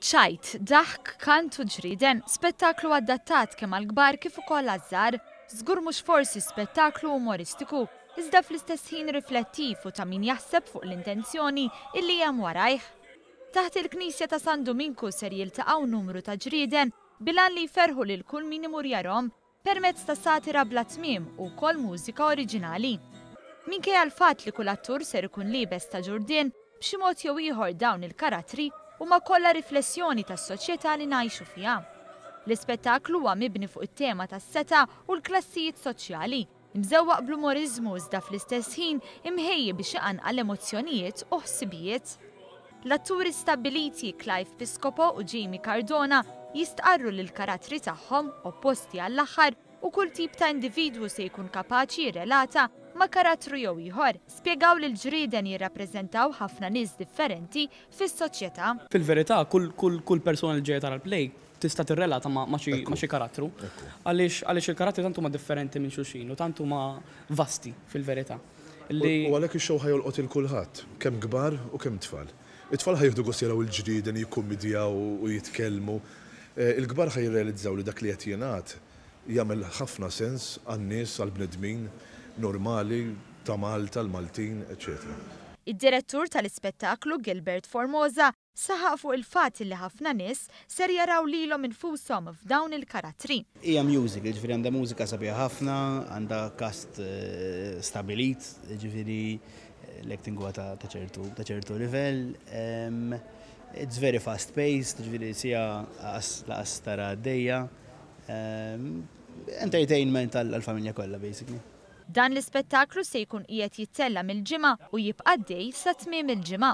ċajt, daħk, kant u ġrieden, spettaklu adattat kemm għall-kbar kif ukoll għaż-żgħar. Żgur mhux forsi spettaklu umoristiku, iżda fl-istess ħin riflettiv u ta' min jaħseb fuq l-intenzjoni illi hemm warajh. Taħt il-Knisja ta' San Duminku ser jiltaqgħu numru ta' ġrieden bilan li jferħu lil kull min imur jarhom permezz ta' satira bla tmiem u wkoll mużika oriġinali. Minkejja l-fatt li kull attur ser ikun liebes ta' ġurdien, b'xi mod jew ieħor dawn il-karattri huma kollha riflessjoni tas-soċjetà li ngħixu fiha. L-ispettaklu huwa mibni fuq it-tema tas-setgħa u l-klassijiet soċjali, Imżewwaq bl-umoriżmu iżda fl-istess ħin imħejji biex iqanqal emozzjonijiet u ħsibijiet. L-atturi stabbiliti Clive Piscopo u Jamie Cardona jistqarru li l-karattri tagħhom, opposti għall-aħħar, u kull tip ta' individwu se jkun kapaċi jirrelata ma' karattru jew ieħor, spjegaw li l-ġrieden jirrappreżentaw ħafna nies differenti fis-soċjetà. Fil-verità, kull persuna li ġejja tara l-play tista' tirrelata ma' ma' xi ma' xi karattru. Għaliex għaliex il-karattri tant huma differenti minn xulxin u tant huma vasti fil-verità li. U għalhekk ix-show ħa jolqot 'il kulħadd, kemm kbar u kemm tfal. It-tfal ħa jieħdu gost jaraw il-ġrieden jikkummidjaw u jitkellmu. Il-kbar ħa jirrealizzaw li dak li qed jingħad jagħmel ħafna sens għan-nies, għall-bnedmin normali ta' Malta, l-Maltin, eċċetera. Id-direttur tal-ispettaklu, Gilbert Formosa, Saħaq fuq il-fatt li ħafna nies ser jaraw lilhom infushom f'dawn il-karattri. Hija musical, jiġifieri għandha mużika sabiħa ħafna, għandha cast stabbilit, jiġifieri l-acting huwa ta' ċertu ta' ċertu livell. It's very fast paced, jiġifieri siegħa laqas laqas tara għaddejja. Entertainment għall-familja kollha basically. Dan l-ispettaklu se jkun qiegħed jittella' mill-Ġimgħa u jibqa' għaddej sa tmiem il-ġimgħa.